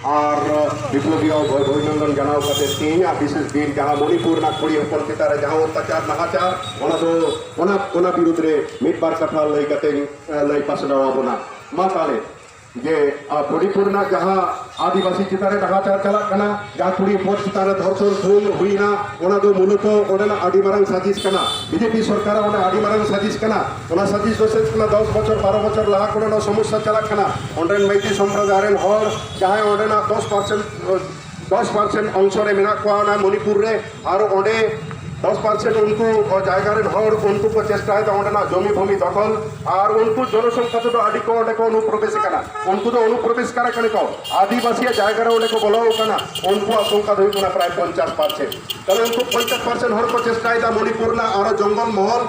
ᱟᱨ ᱵᱤᱯᱞᱚᱵᱤ ᱚᱵᱷᱤᱱᱚᱱᱫᱚᱱ ᱡᱟᱱᱟᱣ ᱠᱟᱛᱮ ᱛᱮᱦᱮᱧᱟᱜ ᱵᱤᱥᱮᱥ ᱫᱤᱱ ᱡᱟᱦᱟᱸ ᱢᱚᱱᱤᱯᱩᱨ ᱨᱮᱱᱟᱜ ᱠᱩᱲᱤ ᱦᱚᱯᱚᱱ ᱪᱮᱛᱟᱱ ᱨᱮ ᱡᱟᱦᱟᱸ ᱚᱛᱛᱟᱪᱟᱨ ᱱᱟᱦᱟᱪᱟᱨ ᱚᱱᱟ ᱫᱚ ᱚᱱᱟ ᱚᱱᱟ ᱵᱤᱨᱩᱫᱽ ᱨᱮ ᱢᱤᱫ ᱵᱟᱨ ᱠᱟᱛᱷᱟ ᱞᱟᱹᱭ ᱠᱟᱛᱮ ᱞᱟᱹᱭ ᱯᱟᱥᱱᱟᱣ ᱟᱵᱚᱱᱟ ᱢᱟ ᱛᱟᱦᱞᱮ ᱡᱮ ᱢᱚᱱᱤᱯᱩᱨ ᱨᱮᱱᱟᱜ ᱡᱟᱦᱟᱸ ᱟᱹᱫᱤᱵᱟᱹᱥᱤ ᱪᱮᱛᱟᱱ ᱨᱮ ᱱᱟᱦᱟᱪᱟᱨ ᱪᱟᱞᱟᱜ ᱠᱟᱱᱟ ᱡᱟᱦᱟᱸ ᱠᱩᱲᱤ ᱦᱚᱯᱚᱱ ᱪᱮᱛᱟᱱ ᱨᱮ ᱫᱷᱚᱨᱥᱚᱱ ᱠᱷᱩᱱ ᱦᱩᱭᱱᱟ ᱚᱱᱟ ᱫᱚ ᱢᱩᱞᱚᱛᱚ ᱚᱸᱰᱮᱱᱟᱜ ᱟᱹᱰᱤ ᱢᱟᱨᱟᱝ ᱥᱟᱹᱡᱤᱥ ᱠᱟᱱᱟ ᱵᱤᱡᱮᱯᱤ ᱥᱚᱨᱠᱟᱨᱟᱜ ᱚᱱᱟ ᱟᱹᱰᱤ ᱢᱟᱨᱟᱝ ᱥᱟᱹᱡᱤᱥ ᱠᱟᱱᱟ ᱚᱱᱟ ᱥᱟᱹᱛᱤ ᱥᱚᱥᱮᱛ ᱠᱟᱱᱟ ᱫᱚᱥ ᱵᱚᱪᱷᱚᱨ ᱵᱟᱨᱚ ᱵᱚᱪᱷᱚᱨ ᱞᱟᱦᱟ ᱠᱷᱚᱱ ᱱᱚᱣᱟ ᱥᱚᱢᱚᱥᱥᱟ ᱪᱟᱞᱟᱜ ᱠᱟᱱᱟ ᱚᱸᱰᱮᱱ ᱢᱟᱹᱭᱛᱤ ᱥᱚᱢᱯᱨᱚᱫᱟᱭ ᱨᱮᱱ ᱦᱚᱲ ᱡᱟᱦᱟᱸᱭ ᱚᱸᱰᱮᱱᱟᱜ ᱫᱚᱥ ᱯᱟᱨᱥᱮᱱᱴ ᱫᱚᱥ ᱯᱟᱨᱥᱮᱱᱴ ᱚᱝᱥᱚ ᱨᱮ ᱢᱮᱱᱟᱜ ᱠᱚᱣᱟ ᱚᱱᱟ ᱢᱚᱱᱤᱯᱩᱨ ᱨᱮ ᱟᱨ ᱚᱸᱰᱮ ᱫᱚᱥ ᱯᱟᱨᱥᱮᱱᱴ ᱩᱱᱠᱩ ᱡᱟᱭᱜᱟ ᱨᱮᱱ ᱦᱚᱲ ᱩᱱᱠᱩ ᱠᱚ ᱪᱮᱥᱴᱟᱭᱮᱫᱟ ᱚᱸᱰᱮᱱᱟᱜ ᱡᱚᱢᱤ ᱵᱷᱩᱢᱤ ᱫᱚᱠᱷᱚᱞ ᱟᱨ ᱩᱱᱠᱩ ᱡᱚᱱᱚᱥᱚᱝᱠᱷᱟ ᱛᱮᱫᱚ ᱟᱹᱰᱤ ᱠᱚ ᱚᱸᱰᱮ ᱠᱚ ᱚᱱᱩᱯᱨᱚᱵᱮᱥ ᱠᱟᱱᱟ ᱩᱱᱠᱩ ᱫᱚ ᱚᱱᱩᱯᱨᱚᱵᱮᱥ ᱠᱟᱱᱟ ᱠᱟᱱᱟ ᱠᱚ ᱟᱹᱫᱤᱵᱟᱹᱥᱤᱭᱟᱜ ᱡᱟᱭᱜᱟ ᱨᱮ ᱚᱸᱰᱮ ᱠᱚ ᱵᱚᱞᱚ ᱠᱟᱱᱟ ᱩᱱᱠᱩᱣᱟᱜ ᱥᱚᱝᱠᱷᱟ ᱫᱚ ᱦᱩᱭᱩᱜ ᱠᱟᱱᱟ ᱯᱨᱟᱭ ᱯᱚᱧᱪᱟᱥ ᱯᱟᱨᱥᱮᱱᱴ ᱛᱟᱦᱞᱮ ᱩᱱᱠᱩ ᱯᱚᱧᱪᱟᱥ ᱯᱟᱨᱥᱮᱱᱴ ᱦᱚᱲ ᱠᱚ ᱪᱮᱥᱴᱟᱭᱮᱫᱟ ᱢᱚᱱᱤᱯᱩᱨ ᱨᱮᱱᱟᱜ ᱟᱨᱚ ᱡᱚᱝᱜᱚᱞ ᱢᱚᱦᱚᱞ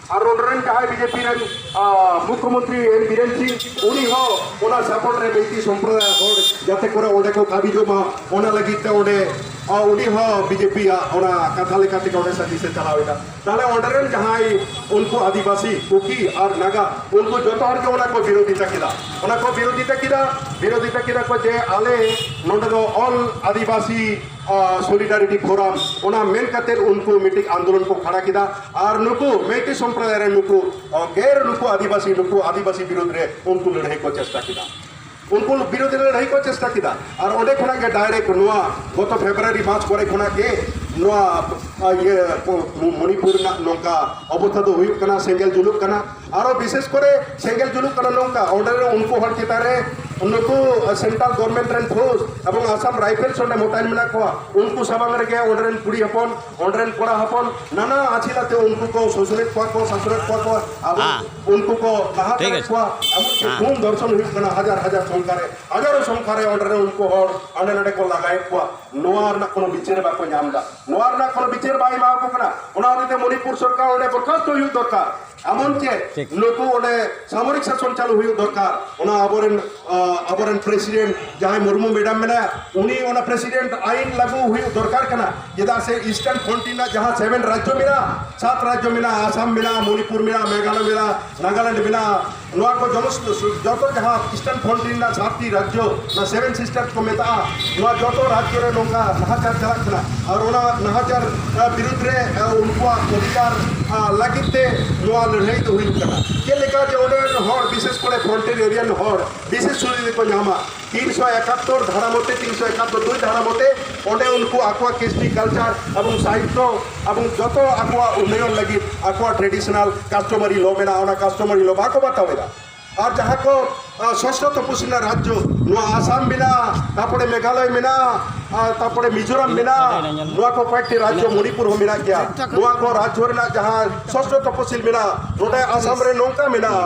ᱟᱨ ᱱᱚᱰᱮ ᱨᱮᱱ ᱡᱟᱦᱟᱸᱭ ᱵᱤᱡᱮᱯᱤ ᱨᱮᱱ ᱢᱩᱠᱷᱭᱚ ᱢᱚᱱᱛᱨᱤ ᱮᱱ ᱵᱤᱨᱮᱱ ᱥᱤᱝ ᱩᱱᱤ ᱦᱚᱸ ᱚᱱᱟ ᱥᱟᱯᱚᱨᱴ ᱨᱮ ᱵᱤᱡᱮᱯᱤ ᱥᱚᱢᱯᱨᱚᱫᱟᱭ ᱦᱚᱲ ᱡᱟᱛᱮ ᱠᱚᱨᱮ ᱚᱸᱰᱮ ᱠᱚ ᱠᱟᱹᱢᱤ ᱡᱚᱢᱟ ᱚᱱᱟ ᱞᱟᱹᱜᱤᱫ ᱛᱮ ᱚᱸᱰᱮ ᱩᱱᱤ ᱦᱚᱸ ᱵᱤᱡᱮᱯᱤ ᱟᱜ ᱚᱱᱟ ᱠᱟᱛᱷᱟ ᱞᱮᱠᱟ ᱛᱮᱜᱮ ᱚᱸᱰᱮ ᱥᱟᱨᱵᱷᱤᱥ ᱮ ᱪᱟᱞᱟᱣ ᱮᱫᱟ ᱛᱟᱦᱞᱮ ᱚᱸᱰᱮ ᱨᱮᱱ ᱡᱟᱦᱟᱸᱭ ᱩᱱᱠᱩ ᱟᱹᱫᱤᱵᱟᱹᱥᱤ ᱠᱩᱠᱤ ᱟᱨ ᱱᱟᱜᱟ ᱩᱱᱠᱩ ᱡᱚᱛᱚ ᱦᱚᱲ ᱜᱮ ᱚᱱᱟ ᱠᱚ ᱵᱤᱨᱳᱫᱷᱤᱛᱟ ᱠᱮᱫᱟ ᱚᱱᱟ ᱠᱚ ᱵᱤᱨᱳᱫᱷᱤᱛᱟ ᱠᱮᱫᱟ ᱵᱤᱨᱳᱫᱷᱤᱛᱟ ᱠᱮᱫᱟ ᱠᱚ ᱡᱮ ᱟᱞᱮ ᱱᱚᱰᱮ ᱫᱚ ᱚᱞ ᱟᱹᱫᱤᱵᱟᱹᱥᱤ ᱥᱚᱞᱤᱰᱟᱨᱤᱴᱤ ᱯᱷᱳᱨᱟᱢ ᱚᱱᱟ ᱢᱮᱱ ᱠᱟᱛᱮ ᱩᱱᱠᱩ ᱢᱤᱫᱴᱤᱡ ᱟᱱᱫᱳᱞᱚᱱ ᱠᱚ ᱠᱷᱟᱲᱟ ᱠᱮᱫᱟ ᱟᱨ ᱱᱩᱠᱩ ᱢᱮᱴᱤ ᱥᱚᱢᱯᱨᱚᱫᱟᱭ ᱨᱮ ᱱᱩᱠᱩ ᱜᱮᱨ ᱱᱩᱠᱩ ᱟᱹᱫᱤᱵᱟᱹᱥᱤ ᱱᱩᱠᱩ ᱟᱹᱫᱤᱵᱟᱹᱥᱤ ᱵᱤᱨᱩᱫᱷ ᱨᱮ ᱩᱱᱠᱩ ᱞᱟᱹᱲᱦᱟᱹᱭ ᱠᱚ ᱪᱮᱥᱴᱟ ᱠᱮᱫᱟ ᱩᱱᱠᱩ ᱵᱤᱨᱩᱫᱷ ᱨᱮ ᱞᱟᱹᱲᱦᱟᱹᱭ ᱠᱚ ᱪᱮᱥᱴᱟ ᱠᱮᱫᱟ ᱟᱨ ᱚᱸᱰᱮ ᱠᱷᱚᱱᱟᱜ ᱜᱮ ᱰᱟᱭᱨᱮᱠᱴ ᱱᱚᱣᱟ ᱜᱚᱛᱚ ᱯᱷᱮᱵᱨᱩᱣᱟᱨᱤ ᱢᱟᱨᱪ ᱠᱚᱨᱮ ᱠᱷᱚᱱᱟᱜ ᱜᱮ ᱱᱚᱣᱟ ᱤᱭᱟᱹ ᱢᱚᱱᱤᱯᱩᱨ ᱨᱮᱱᱟᱜ ᱱᱚᱝᱠᱟ ᱚᱵᱚᱥᱛᱷᱟ ᱫᱚ ᱦᱩᱭᱩᱜ ᱠᱟᱱᱟ ᱥᱮᱸᱜᱮᱞ ᱡᱩᱞᱩᱜ ᱠᱟᱱᱟ ᱟᱨᱚ ᱵᱤᱥᱮᱥ ᱠᱚᱨᱮ ᱥᱮᱸᱜᱮᱞ ᱡᱩᱞᱩᱜ ᱠᱟᱱᱟ ᱱᱚᱝᱠᱟ ᱚᱸᱰᱮ ᱩᱱᱠᱩ ᱦᱚᱲ ᱪᱮᱛᱟᱱ ᱨᱮ ᱱᱩᱠᱩ ᱥᱮᱱᱴᱨᱟᱞ ᱜᱚᱵᱷᱚᱨᱱᱢᱮᱱᱴ ᱨᱮᱱ ᱯᱷᱳᱨᱥ ᱮᱵᱚᱝ ᱟᱥᱟᱢ ᱨᱟᱭᱯᱷᱮᱞᱥ ᱚᱸᱰᱮ ᱢᱚᱛᱟᱭᱤᱱ ᱢᱮᱱᱟᱜ ᱠᱚᱣᱟ ᱩᱱᱠᱩ ᱥᱟᱢᱟᱝ ᱨᱮᱜᱮ ᱚᱸᱰᱮ ᱨᱮᱱ ᱠᱩᱲᱤ ᱦᱚᱯᱚᱱ ᱦᱚᱸᱰᱨᱮᱱ ᱠᱚᱲᱟ ᱦᱚᱯᱚᱱ ᱱᱟᱱᱟ ᱟᱪᱷᱤᱞᱟ ᱛᱮ ᱩᱱᱠᱩ ᱠᱚ ᱥᱩᱥᱩᱨᱮᱫ ᱠᱚᱣᱟ ᱠᱚ ᱥᱟᱥᱩᱨᱮᱫ ᱠᱚᱣᱟ ᱠᱚ ᱟᱵᱚ ᱩᱱᱠᱩ ᱠᱚ ᱞᱟᱦᱟ ᱠᱟᱜ ᱠᱚᱣᱟ ᱟᱵᱚ ᱪᱮᱫ ᱠᱚᱢ ᱫᱚᱨᱥᱚᱱ ᱦᱩᱭᱩᱜ ᱠᱟᱱᱟ ᱦᱟᱡᱟᱨ ᱦᱟᱡᱟᱨ ᱥᱚᱝᱠᱷᱟ ᱨᱮ ᱦᱟᱡᱟᱨ ᱥᱚᱝᱠᱷᱟ ᱨᱮ ᱚᱸᱰᱮ ᱩᱱᱠᱩ ᱦᱚᱲ ᱟᱸᱰᱮ ᱱᱟᱰᱮ ᱠᱚ ᱞᱟᱜᱟᱭᱮᱫ ᱠᱚᱣᱟ ᱱᱚᱣᱟ ᱨᱮᱱᱟᱜ ᱠᱳᱱᱳ ᱵᱤᱪᱟᱹᱨ ᱵᱟᱠᱚ ᱧᱟᱢ ᱮᱫᱟ ᱱᱚᱣᱟ ᱨᱮᱱᱟᱜ ᱠᱳᱱᱳ ᱵᱤᱪᱟᱹᱨ ᱵᱟᱭ ᱮᱢᱟ ᱠᱚ ᱠᱟᱱᱟ ᱚᱱᱟ ᱦᱚᱛᱮᱡ ᱛᱮ ᱢᱚᱱᱤᱯᱩᱨ ᱥᱚᱨᱠᱟᱨ ᱚᱸᱰᱮ ᱵᱚᱨᱠᱷᱟᱥᱛᱚ ᱦᱩᱭᱩᱜ ᱫᱚᱨᱠᱟᱨ ᱮᱢᱚᱱ ᱪᱮ ᱱᱩᱠᱩ ᱚᱸᱰᱮ ᱥᱟᱢᱚᱨᱤᱠ ᱥᱟᱥᱚᱱ ᱪᱟᱞᱩ ᱦᱩᱭᱩᱜ ᱫᱚᱨᱠᱟᱨ ᱚᱱᱟ ᱟᱵᱚᱨᱮᱱ ᱟᱵᱚᱨᱮᱱ ᱯᱨᱮᱥᱤᱰᱮᱱᱴ ᱡᱟᱦᱟᱸᱭ ᱢᱩᱨᱢᱩ ᱢᱮᱰᱟᱢ ᱢᱮᱱᱟᱭᱟ ᱩᱱᱤ ᱚᱱᱟ ᱯᱨᱮᱥᱤᱰᱮᱱᱴ ᱟᱭᱤᱱ ᱞᱟᱜᱩ ᱦᱩᱭᱩᱜ ᱫᱚᱨᱠᱟᱨ ᱠᱟᱱᱟ ᱪᱮᱫᱟᱜ ᱥᱮ ᱤᱥᱴᱟᱨᱱ ᱯᱷᱨᱚᱱᱴᱤᱭᱟᱨ ᱨᱮᱱᱟᱜ ᱡᱟᱦᱟᱸ ᱥᱮᱵᱷᱮᱱ ᱨᱟᱡᱽᱡᱚ ᱢᱮᱱᱟᱜᱼᱟ ᱥᱟᱛ ᱨᱟᱡᱽᱡᱚ ᱢᱮᱱᱟᱜᱼᱟ ᱟᱥᱟᱢ ᱢᱮᱱᱟᱜᱼᱟ ᱢᱚᱱᱤᱯᱩᱨ ᱢᱮᱱᱟᱜᱼᱟ ᱢᱮᱜᱷᱟᱞᱚᱭ ᱢᱮᱱᱟᱜᱼᱟ ᱱᱟᱜᱟᱞᱮᱱᱰ ᱢᱮᱱᱟᱜᱼᱟ ᱱᱚᱣᱟ ᱠᱚ ᱡᱚᱢᱚᱥ ᱡᱚᱛᱚ ᱡᱟᱦᱟᱸ ᱤᱥᱴᱟᱨᱱ ᱯᱷᱨᱚᱱᱴ ᱨᱮᱱᱟᱜ ᱥᱟᱛᱴᱤ ᱨᱟᱡᱽᱡᱚ ᱱᱚᱣᱟ ᱥᱮᱵᱷᱮᱱ ᱥᱤᱥᱴᱟᱨᱥ ᱠᱚ ᱢᱮᱛᱟᱜᱼᱟ ᱱᱚᱣᱟ ᱡᱚᱛᱚ ᱨᱟᱡᱽᱡᱚ ᱨᱮ ᱱᱚᱝᱠᱟ ᱱᱟᱦᱟᱪᱟᱨ ᱪᱟᱞᱟᱜ ᱠᱟᱱᱟ ᱟᱨ ᱚᱱᱟ ᱱᱟᱦᱟᱪᱟᱨ ᱵᱤᱨᱩᱫᱽ ᱨᱮ ᱩᱱᱠᱩᱣᱟᱜ ᱚᱫᱷᱤᱠᱟᱨ ᱞᱟᱹᱜᱤᱫ ᱛᱮ ᱱᱚᱣᱟ ᱞᱟᱹᱲᱦᱟᱹᱭ ᱫᱚ ᱦᱩᱭᱩᱜ ᱠᱟᱱᱟ ᱪᱮᱫ ᱞᱮᱠᱟ ᱡᱮ ᱚᱸᱰᱮ ᱨᱮᱱ ᱦᱚᱲ ᱵᱤᱥᱮᱥ ᱠᱚᱨᱮ ᱯᱷᱨᱚᱱᱴᱮᱨ ᱮᱨᱤᱭᱟᱱ ᱦᱚᱲ ᱵᱤᱥᱮᱥ ᱥᱩᱵᱤᱫᱷᱟ ᱠᱚ ᱧᱟᱢᱟ ᱛᱤᱱ ᱥᱚ ᱮᱠᱟᱛᱛᱳᱨ ᱫᱷᱟᱨᱟ ᱢᱚᱛᱮ ᱛᱤᱱ ᱥᱚ ᱮᱠᱟᱛᱛᱳᱨ ᱫᱩᱭ ᱫᱷᱟᱨᱟ ᱢᱚᱛᱮ ᱚᱸᱰᱮ ᱩᱱᱠᱩ ᱟᱠᱚᱣᱟᱜ ᱠᱤᱥᱴᱤ ᱠᱟᱞᱪᱟᱨ ᱮᱵᱚᱝ ᱥᱟᱦᱤᱛᱛᱚ ᱮᱵᱚᱝ ᱡᱚᱛᱚ ᱟᱠᱚᱣᱟᱜ ᱩᱱᱱᱚᱭᱚᱱ ᱞᱟᱹᱜᱤᱫ ᱟᱠᱚᱣᱟᱜ ᱴᱨᱮᱰᱤᱥᱚᱱᱟᱞ ᱠᱟᱥᱴᱚᱢᱟᱨᱤ ᱞᱚ ᱢᱮᱱᱟᱜᱼᱟ ᱚᱱᱟ ᱠᱟᱥᱴᱚᱢᱟᱨᱤ ᱞᱚ ᱵᱟᱠᱚ ᱵᱟᱛᱟᱣ ᱮᱫᱟ ᱟᱨ ᱡᱟᱦᱟᱸ ᱠᱚ ᱥᱚᱥᱚ ᱛᱚᱯᱚᱥᱤ ᱨᱮᱱᱟᱜ ᱨᱟᱡᱽᱡᱚ ᱱᱚᱣᱟ ᱟᱥᱟᱢ ᱢᱮᱱᱟᱜᱼᱟ ᱛᱟᱨᱯᱚᱨᱮ ᱢᱮᱜᱷᱟᱞᱚᱭ ᱢᱮᱱᱟᱜᱼᱟ ᱛᱟᱨᱯᱚᱨᱮ ᱢᱤᱡᱳᱨᱟᱢ ᱢᱮᱱᱟᱜᱼᱟ ᱱᱚᱣᱟ ᱠᱚ ᱠᱚᱭᱮᱠᱴᱤ ᱨᱟᱡᱽᱡᱚ ᱢᱚᱱᱤᱯᱩᱨ ᱦᱚᱸ ᱢᱮᱱᱟᱜ ᱜᱮᱭᱟ ᱱᱚᱣᱟ ᱠᱚ ᱨᱟᱡᱽᱡᱚ ᱨᱮᱱᱟᱜ ᱡᱟᱦᱟᱸ ᱥᱚᱥᱚ ᱛᱚᱯᱚᱥᱤᱞ ᱢᱮᱱᱟᱜᱼᱟ ᱱᱚᱰᱮ ᱟᱥᱟᱢ ᱨᱮ ᱱᱚᱝᱠᱟ ᱢᱮᱱᱟᱜᱼᱟ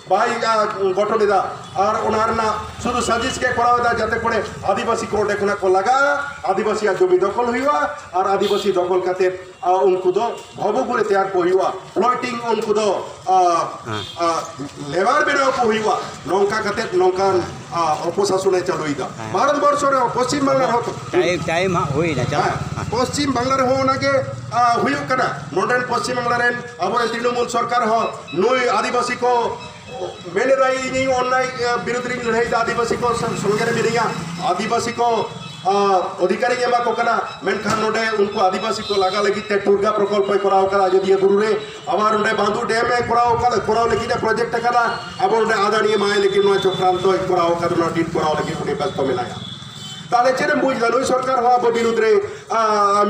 ᱵᱟᱭ ᱜᱚᱴᱷᱚᱱᱮᱫᱟ ᱟᱨ ᱚᱱᱟ ᱨᱮᱱᱟᱜ ᱥᱩᱫᱷᱩ ᱥᱟᱡᱤᱥ ᱜᱮ ᱠᱚᱨᱟᱣ ᱮᱫᱟ ᱡᱟᱛᱮ ᱠᱚᱨᱮ ᱟᱹᱫᱤᱵᱟᱹᱥᱤ ᱠᱚ ᱚᱸᱰᱮ ᱠᱷᱚᱱᱟᱜ ᱠᱚ ᱞᱟᱜᱟ ᱟᱹᱫᱤᱵᱟᱹᱥᱤᱭᱟᱜ ᱡᱚᱢᱤ ᱫᱚᱠᱷᱚᱞ ᱦᱩᱭᱩᱜᱼᱟ ᱟᱨ ᱟᱹᱫᱤᱵᱟᱹᱥᱤ ᱫᱚᱠᱷᱚᱞ ᱠᱟᱛᱮ ᱩᱱᱠᱩ ᱫᱚ ᱵᱷᱚᱵᱚ ᱠᱚᱨᱮ ᱛᱮᱭᱟᱨ ᱠᱚ ᱦᱩᱭᱩᱜᱼᱟ ᱯᱞᱚᱴᱤᱝ ᱩᱱᱠᱩ ᱫᱚ ᱞᱮᱵᱟᱨ ᱵᱮᱱᱟᱣ ᱠᱚ ᱦᱩᱭᱩᱜᱼᱟ ᱱᱚᱝᱠᱟ ᱠᱟᱛᱮ ᱱᱚᱝᱠᱟᱱ ᱚᱯᱚᱥᱟᱥᱚᱱ ᱮ ᱪᱟᱹᱞᱩᱭᱮᱫᱟ ᱵᱷᱟᱨᱚᱛ ᱵᱚᱨᱥᱚ ᱨᱮ ᱯᱚᱥᱪᱤᱢ ᱵᱟᱝᱞᱟ ᱨᱮᱦᱚᱸ ᱴᱟᱭᱤᱢ ᱴᱟᱭᱤᱢ ᱦᱟᱸᱜ ᱦᱩᱭᱱᱟ ᱯᱚᱥᱪᱤᱢ ᱵᱟᱝᱞᱟ ᱨᱮᱦᱚᱸ ᱚᱱᱟᱜᱮ ᱦᱩᱭᱩᱜ ᱠᱟᱱᱟ ᱱᱚᱰᱮᱱ ᱯᱚᱥᱪᱤᱢ ᱵᱟᱝᱞᱟ ᱨᱮᱱ ᱟᱵᱚᱨᱮᱱ ᱛᱨᱤᱱᱚᱢᱩᱞ ᱥᱚᱨᱠᱟᱨ ᱦᱚᱸ ᱱᱩᱭ ᱟᱹᱫᱤᱵᱟᱹᱥᱤ ᱠᱚ ᱢᱮᱱ ᱮᱫᱟᱭ ᱤᱧᱤᱧ ᱚᱱᱱᱟᱭ ᱵᱤᱨᱩᱫᱷ ᱨᱤᱧ ᱞᱟᱹᱲᱦᱟᱹᱭ ᱮᱫᱟ ᱟᱹᱫᱤᱵᱟᱹᱥᱤ ᱠᱚ ᱥᱚᱸᱜᱮ ᱨᱮ ᱢᱤᱱᱟᱹᱧᱟ ᱟᱹᱫᱤᱵᱟᱹᱥᱤ ᱠᱚ ᱚᱫᱷᱤᱠᱟᱨᱤᱧ ᱮᱢᱟ ᱠᱚ ᱠᱟᱱᱟ ᱢᱮᱱᱠᱷᱟᱱ ᱱᱚᱰᱮ ᱩᱱᱠᱩ ᱟᱹᱫᱤᱵᱟᱹᱥᱤ ᱠᱚ ᱞᱟᱜᱟ ᱞᱟᱹᱜᱤᱫ ᱛᱮ ᱴᱩᱨᱜᱟ ᱯᱨᱚᱠᱚᱞᱯᱚᱭ ᱠᱚᱨᱟᱣ ᱟᱠᱟᱫᱟ ᱟᱡᱚᱫᱤᱭᱟᱹ ᱵᱩᱨᱩ ᱨᱮ ᱟᱵᱟᱨ ᱱᱚᱰᱮ ᱵᱟᱸᱫᱩ ᱰᱮᱢ ᱮ ᱠᱚᱨᱟᱣ ᱟᱠᱟᱫᱟ ᱠᱚᱨᱟᱣ ᱞᱟᱹᱜᱤᱫ ᱮ ᱯᱨᱚᱡᱮᱠᱴ ᱟᱠᱟᱫᱟ ᱟᱵᱚ ᱱᱚᱰᱮ ᱟᱫᱟᱱᱤ ᱮᱢᱟᱭ ᱞᱟᱹᱜᱤᱫ ᱱᱚᱣᱟ ᱪᱚᱠᱨᱟᱱᱛᱚᱭ ᱠᱚᱨᱟᱣ ᱟᱠᱟᱫᱟ ᱱᱚᱣᱟ ᱰᱤᱴ ᱠᱚᱨᱟᱣ ᱞᱟᱹᱜᱤᱫ ᱩᱱᱤ ᱵᱮᱥᱛᱚ ᱢᱮᱱᱟᱭᱟ ᱛᱟᱦᱞᱮ ᱪᱮᱫ ᱮᱢ ᱵᱩᱡᱽ ᱮᱫᱟ ᱱᱩᱭ ᱥᱚᱨᱠᱟᱨ ᱦᱚᱸ ᱟᱵᱚ ᱵᱤᱨᱩᱫᱷ ᱨᱮ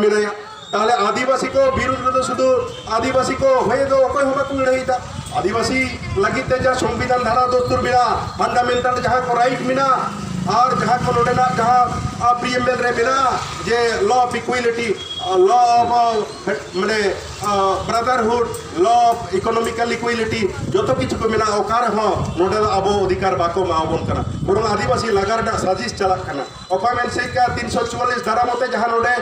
ᱢᱮᱱᱟᱭᱟ ᱛᱟᱦᱞᱮ ᱟᱹᱫᱤᱵᱟᱹᱥᱤ ᱠᱚ ᱵᱤᱨᱩᱫ ᱨᱮᱫᱚ ᱥᱩᱫᱷᱩ ᱟᱹᱫᱤᱵᱟᱹᱥᱤ ᱠᱚ ᱦᱚᱭᱮ ᱫᱚ ᱚᱠᱚᱭ ᱦᱚᱸ ᱵᱟᱠᱚ ᱞᱟᱹᱲᱦᱟᱹᱭᱮᱫᱟ ᱟᱹᱫᱤᱵᱟᱹᱥᱤ ᱞᱟᱹᱜᱤᱫ ᱛᱮ ᱡᱟᱦᱟᱸ ᱥᱚᱝᱵᱤᱫᱷᱟᱱ ᱫᱷᱟᱨᱟ ᱫᱚᱥᱛᱩᱨ ᱢᱮᱱᱟᱜᱼᱟ ᱯᱷᱟᱱᱰᱟᱢᱮᱱᱴᱟᱞ ᱡᱟᱦᱟᱸ ᱠᱚ ᱨᱟᱭᱤᱴ ᱢᱮᱱᱟᱜᱼᱟ ᱟᱨ ᱡᱟᱦᱟᱸ ᱠᱚ ᱱᱚᱰᱮᱱᱟᱜ ᱡᱟᱦᱟᱸ ᱯᱨᱤᱭᱮᱢᱵᱮᱞ ᱨᱮ ᱢᱮᱱᱟᱜᱼᱟ ᱡᱮ ᱞᱚ ᱚᱯᱷ ᱤᱠᱩᱭᱤᱞᱤᱴᱤ ᱞᱚ ᱚᱯᱷ ᱢᱟᱱᱮ ᱵᱨᱟᱫᱟᱨᱦᱩᱰ ᱞᱚ ᱚᱯᱷ ᱤᱠᱳᱱᱚᱢᱤᱠᱟᱞ ᱤᱠᱩᱭᱤᱞᱤᱴᱤ ᱡᱚᱛᱚ ᱠᱤᱪᱷᱩ ᱠᱚ ᱢᱮᱱᱟᱜᱼᱟ ᱚᱠᱟ ᱨᱮᱦᱚᱸ ᱱᱚᱰᱮ ᱫᱚ ᱟᱵᱚ ᱚᱫᱷᱤᱠᱟᱨ ᱵᱟᱠᱚ ᱮᱢᱟᱵᱚᱱ ᱠᱟᱱᱟ ᱵᱚᱨᱚᱝ ᱟᱹᱫᱤᱵᱟᱹᱥᱤ ᱞᱟᱜᱟ ᱨᱮᱱᱟᱜ ᱥᱟᱡᱤᱥ ᱪᱟᱞᱟᱜ ᱠᱟᱱᱟ ᱚᱠᱚᱭ ᱢᱮᱱ ᱥᱮᱫ ᱠᱟ 344 ᱫᱟᱨᱟ ᱢᱚᱛᱮ ᱡᱟᱦᱟᱸ ᱱᱚᱰᱮ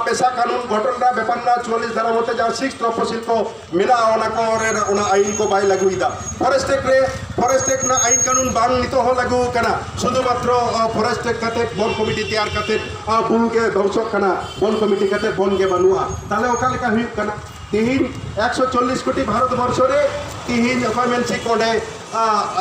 ᱯᱮᱥᱟ ᱠᱟᱱᱩᱱ ᱜᱚᱴᱚᱱ ᱨᱟ ᱵᱮᱯᱟᱨ ᱨᱟ 44 ᱫᱟᱨᱟ ᱢᱚᱛᱮ ᱡᱟᱦᱟᱸ ᱥᱤᱠᱥ ᱛᱚᱯᱚᱥᱤᱞ ᱠᱚ ᱢᱮᱱᱟ ᱚᱱᱟ ᱠᱚ ᱨᱮ ᱚᱱᱟ ᱟᱭᱤᱱ ᱠᱚ ᱵᱟᱭ ᱞᱟᱜᱩ ᱤᱫᱟ ᱯᱷᱚᱨᱮᱥᱴ ᱮᱠᱴ ᱨᱮ ᱯᱷᱚᱨᱮᱥᱴ ᱮᱠᱴ ᱨᱮᱱᱟᱜ ᱟᱭᱤᱱ ᱠᱟᱱᱩᱱ ᱵᱟᱝ ᱱᱤᱛᱚᱜ ᱦᱚᱸ ᱞᱟᱜᱩ ᱠᱟᱱᱟ ᱥᱩᱫᱷᱩ ᱢᱟᱛᱨᱚ ᱯᱷᱚᱨᱮᱥᱴ ᱮᱠᱴ ᱠᱟᱛᱮ ᱵᱚᱱ ᱠᱚᱢᱤᱴᱤ ᱛᱮᱭᱟᱨ ᱠᱟᱛᱮ ᱵᱩᱨᱩ ᱜᱮ ᱫᱷᱚᱝᱥᱚᱜ ᱠᱟᱱᱟ ᱵᱚᱱ ᱠᱚᱢᱤᱴᱤ ᱠᱟᱛᱮ ᱵᱚᱱ ᱜᱮ ᱵᱟᱹᱱᱩᱜᱼᱟ ᱛᱟᱦᱞᱮ ᱚᱠᱟ ᱞᱮᱠᱟ ᱦᱩᱭᱩᱜ ᱠᱟᱱᱟ ᱛᱤᱦᱤᱧ 140 ᱠᱳᱴᱤ ᱵᱷᱟᱨᱚᱛ ᱵᱚᱨᱥᱚ ᱨᱮ ᱛᱤᱦᱤᱧ ᱚᱠᱚᱭ ᱢᱮᱱ ᱥᱮᱫ ᱚᱸᱰᱮ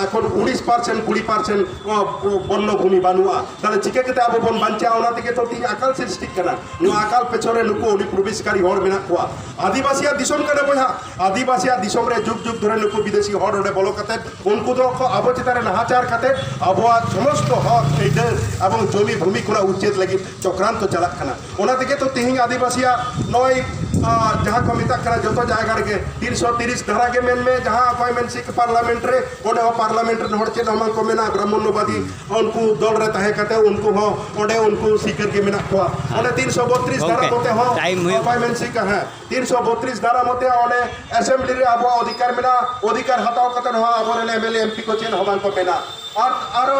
ᱮᱠᱷᱚᱱ ᱩᱱᱤᱥ ᱯᱟᱨᱥᱮᱱ ᱠᱩᱲᱤ ᱯᱟᱨᱥᱮᱱ ᱵᱚᱱᱱᱚ ᱵᱷᱩᱢᱤ ᱵᱟᱹᱱᱩᱜᱼᱟ ᱛᱟᱦᱚᱞᱮ ᱪᱤᱠᱟᱹ ᱠᱟᱛᱮ ᱟᱵᱚ ᱵᱚᱱ ᱵᱟᱧᱪᱟᱜᱼᱟ ᱚᱱᱟ ᱛᱮᱜᱮ ᱛᱚ ᱛᱤᱦᱤᱧ ᱟᱠᱟᱞ ᱥᱨᱤᱥᱴᱤᱜ ᱠᱟᱱᱟ ᱱᱚᱣᱟ ᱟᱠᱟᱞ ᱯᱮᱪᱷᱚᱱ ᱨᱮ ᱱᱩᱠᱩ ᱚᱰᱤ ᱯᱨᱚᱵᱮᱥᱠᱟᱨᱤ ᱦᱚᱲ ᱢᱮᱱᱟᱜ ᱠᱚᱣᱟ ᱟᱹᱫᱤᱵᱟᱹᱥᱤᱭᱟᱜ ᱫᱤᱥᱚᱢ ᱠᱟᱱᱟ ᱵᱚᱭᱦᱟ ᱟᱹᱫᱤᱵᱟᱹᱥᱤᱭᱟᱜ ᱫᱤᱥᱚᱢ ᱨᱮ ᱡᱩᱜᱽ ᱡᱩᱜᱽ ᱫᱷᱚᱨᱮ ᱱᱩᱠᱩ ᱵᱤᱫᱮᱥᱤ ᱦᱚᱲ ᱚᱸᱰᱮ ᱵᱚᱞᱚ ᱠᱟᱛᱮ ᱩᱱᱠᱩ ᱫᱚ ᱠᱚ ᱟᱵᱚ ᱪᱮᱛᱟᱱ ᱨᱮ ᱱᱟᱦᱟᱪᱟᱨ ᱠᱟᱛᱮ ᱟᱵᱚᱣᱟᱜ ᱥᱚᱢᱚᱥᱛᱚ ᱦᱚᱠ ᱟᱹᱭᱫᱟᱹᱨ ᱮᱵᱚᱝ ᱡᱚᱢᱤ ᱵᱷᱩᱢᱤ ᱠᱚᱨᱮ ᱩᱪᱪᱮᱫ ᱞᱟᱹᱜᱤᱫ ᱪᱚᱠᱨᱟᱱᱛᱚ ᱪᱟᱞᱟᱜ ᱠᱟᱱᱟ ᱚᱱᱟ ᱛᱮᱜᱮ ᱛᱚ ᱛᱮᱦᱮᱧ ᱟᱹᱫᱤᱵᱟᱹᱥᱤᱭᱟᱜ ᱱᱚᱜᱼᱚᱭ ᱡᱟᱦᱟᱸ ᱠᱚ ᱢᱮᱛᱟᱜ ᱠᱟᱱᱟ ᱡᱚᱛᱚ ᱡᱟᱭᱜᱟ ᱨᱮᱜᱮ ᱛᱤᱱᱥᱚ ᱛᱤᱨᱤᱥ ᱫᱷᱟᱨᱟ ᱜᱮ ᱢᱮᱱ ᱢᱮ ᱡᱟᱦᱟᱸ ᱚᱠᱚᱭ ᱢᱮᱱ ᱥᱤᱠ ᱯᱟᱨᱞᱟᱢᱮᱱᱴ ᱨᱮ ᱚᱸᱰᱮ ᱦᱚᱸ ᱯᱟᱨᱞᱟᱢᱮᱱᱴ ᱨᱮᱱ ᱦᱚᱲ ᱪᱮᱫ ᱦᱚᱸ ᱵᱟᱝ ᱠᱚ ᱢᱮᱱᱟ ᱵᱨᱟᱦᱢᱚᱱᱚᱵᱟᱫᱤ ᱩᱱᱠᱩ ᱫᱚᱞ ᱨᱮ ᱛᱟᱦᱮᱸ ᱠᱟᱛᱮ ᱩᱱᱠᱩ ᱦᱚᱸ ᱚᱸᱰᱮ ᱩᱱᱠᱩ ᱥᱤᱠᱟᱹᱨ ᱜᱮ ᱢᱮᱱᱟᱜ ᱠᱚᱣᱟ ᱚᱸᱰᱮ ᱛᱤᱱᱥᱚ ᱵᱚᱛᱨᱤᱥ ᱫᱷᱟᱨᱟ ᱢᱚᱛᱮ ᱦᱚᱸ ᱚᱠᱚᱭ ᱢᱮᱱ ᱥᱤᱠ ᱦᱮᱸ ᱛᱤᱱᱥᱚ ᱵᱚᱛᱨᱤᱥ ᱫᱷᱟᱨᱟ ᱢᱚᱛᱮ ᱚᱸᱰᱮ ᱮᱥᱮᱢᱵᱞᱤ ᱨᱮ ᱟᱵᱚᱣᱟᱜ ᱚᱫᱷᱤᱠᱟᱨ ᱢᱮᱱᱟᱜᱼᱟ ᱚᱫᱷᱤᱠᱟᱨ ᱦᱟᱛᱟᱣ ᱠᱟᱛᱮ ᱦᱚᱸ ᱟᱵᱚᱨᱮᱱ ᱮᱢᱮᱞᱮ ᱮᱢᱯᱤ ᱠᱚ ᱪᱮᱫ ᱦᱚᱸ ᱵᱟᱝ ᱠᱚ ᱢᱮᱱᱟ ᱟᱨ ᱟᱨᱚ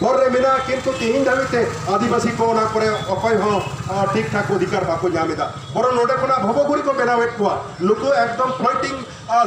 ᱦᱚᱨ ᱨᱮ ᱢᱮᱱᱟᱜᱼᱟ ᱠᱤᱱᱛᱩ ᱛᱮᱦᱮᱧ ᱫᱷᱟᱹᱵᱤᱡ ᱛᱮ ᱟᱹᱫᱤᱵᱟᱹᱥᱤ ᱠᱚ ᱚᱱᱟ ᱠᱚᱨᱮ ᱚᱠᱚᱭ ᱦᱚᱸ ᱴᱷᱤᱠ ᱴᱷᱟᱠ ᱚᱫᱷᱤᱠᱟᱨ ᱵᱟᱠᱚ ᱧᱟᱢ ᱮᱫᱟ ᱵᱚᱨᱚᱝ ᱱᱚᱰᱮ ᱠᱷᱚᱱᱟᱜ ᱵᱷᱚᱵᱚᱜᱩᱨᱤ ᱠᱚ ᱵᱮᱱᱟᱣᱮᱫ ᱠᱚᱣᱟ ᱱᱩᱠᱩ ᱮᱠᱫᱚᱢ ᱯᱷᱞᱚᱴᱤᱝ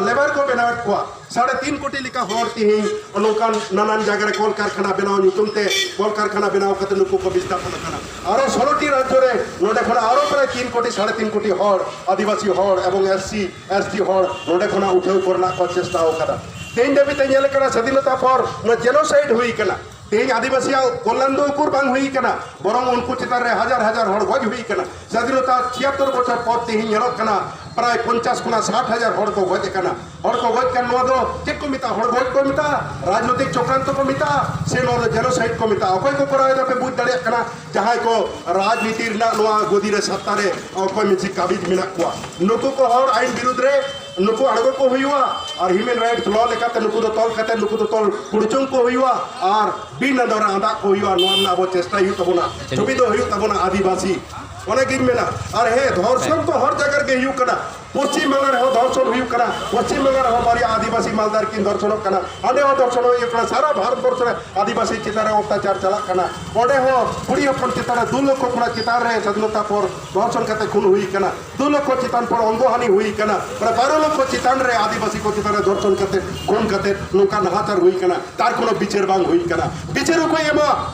ᱞᱮᱵᱟᱨ ᱠᱚ ᱵᱮᱱᱟᱣᱮᱫ ᱠᱚᱣᱟ ᱥᱟᱲᱮ ᱛᱤᱱ ᱠᱳᱴᱤ ᱞᱮᱠᱟ ᱦᱚᱲ ᱛᱮᱦᱮᱧ ᱱᱚᱝᱠᱟᱱ ᱱᱟᱱᱟᱱ ᱡᱟᱭᱜᱟ ᱨᱮ ᱠᱚᱞ ᱠᱟᱨᱠᱷᱟᱱᱟ ᱵᱮᱱᱟᱣ ᱧᱩᱛᱩᱢ ᱛᱮ ᱠᱚᱞ ᱠᱟᱨᱠᱷᱟᱱᱟ ᱵᱮᱱᱟᱣ ᱠᱟᱛᱮ ᱱᱩᱠᱩ ᱠᱚ ᱵᱤᱥᱛᱟᱯᱚᱱ ᱟᱠᱟᱱᱟ ᱟᱨᱚ ᱥᱳᱞᱳᱴᱤ ᱨᱟᱡᱽᱡᱚ ᱨᱮ ᱱᱚᱰᱮ ᱠᱷᱚᱱᱟᱜ ᱟᱨᱚ ᱯᱨᱟᱭ ᱛᱤᱱ ᱠᱳᱴᱤ ᱥᱟᱲᱮ ᱛᱤᱱ ᱠᱳᱴᱤ ᱦᱚᱲ ᱟᱹᱫᱤᱵᱟᱹᱥᱤ ᱦᱚᱲ ᱮᱵᱚᱝ ᱮᱥ ᱥᱤ ᱮᱥᱴᱤ ᱦᱚᱲ ᱱᱚᱰᱮ ᱠᱷᱚᱱᱟᱜ ᱩᱴᱷᱟᱹᱣ ᱠᱚᱨᱮᱱᱟᱜ ᱠᱚ ᱪᱮᱥᱴᱟ ᱟᱠᱟᱫᱟ ᱛᱮᱦᱮᱧ ᱫᱷᱟᱹᱵᱤᱡ ᱛᱮ ᱧᱮᱞ ᱟᱠᱟᱱᱟ ᱥᱟᱹᱫᱷᱤᱱᱚᱛᱟ ᱯᱚᱨ ᱱᱚᱣᱟ ᱡᱮᱱᱳᱥᱟᱭᱤᱰ ᱦᱩᱭ ᱟᱠᱟᱱᱟ ᱛᱮᱦᱮᱧ ᱟᱹᱫᱤᱵᱟᱹᱥᱤᱭᱟᱜ ᱠᱚᱞᱞᱟᱱ ᱫᱚ ᱩᱠᱩᱨ ᱵᱟᱝ ᱦᱩᱭ ᱟᱠᱟᱱᱟ ᱵᱚᱨᱚᱝ ᱩᱱᱠᱩ ᱪᱮᱛᱟᱱ ᱨᱮ ᱦᱟᱡᱟᱨ ᱦᱟᱡᱟᱨ ᱦᱚᱲ ᱜᱚᱡ ᱦᱩᱭ ᱟᱠᱟᱱᱟ ᱥᱟᱹᱫᱷᱤᱱᱚᱛᱟ ᱪᱷᱤᱭᱟᱛᱛᱚᱨ ᱵᱚᱪᱷᱚᱨ ᱯᱚᱨ ᱛᱮᱦᱮᱧ ᱧᱮᱞᱚᱜ ᱠᱟᱱᱟ ᱯᱨᱟᱭ ᱯᱚᱧᱪᱟᱥ ᱠᱷᱚᱱᱟᱜ ᱥᱟᱴ ᱦᱟᱡᱟᱨ ᱦᱚᱲ ᱠᱚ ᱜᱚᱡ ᱟᱠᱟᱱᱟ ᱦᱚᱲ ᱠᱚ ᱜᱚᱡ ᱠᱟᱱ ᱱᱚᱣᱟ ᱫᱚ ᱪᱮᱫ ᱠᱚ ᱢᱮᱛᱟᱜᱼᱟ ᱦᱚᱲ ᱜᱚᱡ ᱠᱚ ᱢᱮᱛᱟᱜᱼᱟ ᱨᱟᱡᱽᱱᱳᱭᱛᱤᱠ ᱪᱚᱠᱨᱟᱱᱛᱚ ᱠᱚ ᱢᱮᱛᱟᱜᱼᱟ ᱥᱮ ᱱᱚᱣᱟ ᱫᱚ ᱡᱮᱱᱳᱥᱟᱭᱤᱰ ᱠᱚ ᱢᱮᱛᱟᱜᱼᱟ ᱚᱠᱚᱭ ᱠᱚ ᱠᱚᱨᱟᱣ ᱮᱫᱟ ᱯᱮ ᱵᱩᱡᱽ ᱫᱟᱲᱮᱭᱟᱜ ᱠᱟᱱᱟ ᱡᱟᱦᱟᱸᱭ ᱠᱚ ᱨᱟᱡᱽᱱᱤᱛᱤ ᱨᱮᱱᱟᱜ ᱱᱚᱣᱟ ᱜᱚᱫᱤ ᱨᱮ ᱥᱟᱛᱛᱟ ᱨᱮ ᱚᱠᱚᱭ ᱢᱤᱫ ᱠᱟᱹᱢᱤᱡ ᱢᱮᱱᱟᱜ ᱠᱚᱣᱟ ᱱᱩᱠᱩ ᱠᱚ ᱦᱚᱲ ᱟᱹᱭᱤᱱ ᱵᱤᱨᱩᱫᱽ ᱨᱮ ᱱᱩᱠᱩ ᱟᱬᱜᱚ ᱠᱚ ᱦᱩᱭᱩᱜᱼᱟ ᱟᱨ ᱦᱤᱭᱩᱢᱮᱱ ᱨᱟᱭᱤᱴᱥ ᱞᱚ ᱞᱮᱠᱟᱛᱮ ᱱᱩᱠᱩ ᱫᱚ ᱛᱚᱞ ᱠᱟᱛᱮ ᱱᱩᱠᱩ ᱫᱚ ᱛᱚᱞ ᱠᱩᱲᱪᱩᱝ ᱠᱚ ᱦᱩᱭᱩᱜᱼᱟ ᱟᱨ ᱵᱤᱱ ᱟᱸᱫᱚ ᱨᱮ ᱟᱸᱫᱟᱜ ᱠᱚ ᱦᱩᱭᱩᱜᱼᱟ ᱱᱚᱣᱟ ᱨᱮᱱᱟᱜ ᱟᱵᱚ ᱪᱮᱥᱴᱟᱭ ᱦᱩᱭᱩᱜ ᱛᱟᱵᱚᱱᱟ ᱪᱷᱚᱵᱤ ᱫᱚ ᱦᱩᱭᱩᱜ ᱛᱟᱵᱚᱱᱟ ᱟᱹᱫᱤᱵᱟᱹᱥᱤ ᱚᱱᱮᱜᱤᱧ ᱢᱮᱱᱟ ᱟᱨ ᱦᱮᱸ ᱫᱷᱚᱨᱥᱚᱱ ᱫᱚ ᱦᱚᱨ ᱡᱟᱭᱜᱟ ᱨᱮᱜᱮ ᱦᱩᱭᱩᱜ ᱠᱟᱱᱟ ᱯᱚᱥᱪᱤᱢ ᱵᱟᱝᱞᱟ ᱨᱮᱦᱚᱸ ᱫᱚᱨᱥᱚᱱ ᱦᱩᱭᱩᱜ ᱠᱟᱱᱟ ᱯᱚᱥᱪᱤᱢ ᱵᱟᱝᱞᱟ ᱨᱮᱦᱚᱸ ᱵᱟᱨᱭᱟ ᱟᱹᱫᱤᱵᱟᱹᱥᱤ ᱢᱟᱞᱫᱟᱨ ᱠᱤᱱ ᱫᱚᱨᱥᱚᱱᱚᱜ ᱠᱟᱱᱟ ᱚᱸᱰᱮ ᱦᱚᱸ ᱫᱚᱨᱥᱚᱱ ᱦᱩᱭᱩᱜ ᱠᱟᱱᱟ ᱥᱟᱨᱟ ᱵᱷᱟᱨᱚᱛ ᱵᱚᱨᱥ ᱨᱮ ᱟᱹᱫᱤᱵᱟᱹᱥᱤ ᱪᱮᱛᱟᱱ ᱨᱮ ᱚᱛᱛᱟᱪᱟᱨ ᱪᱟᱞᱟᱜ ᱠᱟᱱᱟ ᱚᱸᱰᱮ ᱦᱚᱸ ᱠᱩᱲᱤ ᱦᱚᱯᱚᱱ ᱪᱮᱛᱟᱱ ᱨᱮ ᱫᱩ ᱞᱚᱠᱷᱚ ᱠᱷᱚᱱᱟᱜ ᱪᱮᱛᱟᱱ ᱨᱮ ᱥᱟᱫᱷᱤᱱᱚᱛᱟ ᱯᱚᱨ ᱫᱚᱨᱥᱚᱱ ᱠᱟᱛᱮ ᱠᱷᱩᱱ ᱦᱩᱭ ᱠᱟᱱᱟ ᱫᱩ ᱞᱚᱠᱷᱚ ᱪᱮᱛᱟᱱ ᱯᱚᱨ ᱚᱝᱜᱚᱦᱟᱱᱤ ᱦᱩᱭ ᱠᱟᱱᱟ ᱢᱟᱱᱮ ᱵᱟᱨᱚ ᱞᱚᱠᱷᱚ ᱪᱮᱛᱟᱱ ᱨᱮ ᱟᱹᱫᱤᱵᱟᱹᱥᱤ ᱠᱚ ᱪᱮᱛᱟᱱ ᱨᱮ ᱫᱚᱨᱥᱚᱱ ᱠᱟᱛᱮ ᱠᱷᱩᱱ ᱠᱟᱛᱮ ᱱᱚᱝᱠᱟ ᱱᱟᱦᱟᱪᱟᱨ ᱦᱩᱭ ᱠᱟᱱᱟ ᱛᱟᱨ ᱠᱳᱱᱳ ᱵᱤᱪᱟᱹᱨ ᱵᱟᱝ ᱦᱩᱭ ᱠᱟᱱᱟ ᱵᱤᱪᱟᱹᱨ ᱚᱠᱚᱭ ᱮᱢᱟ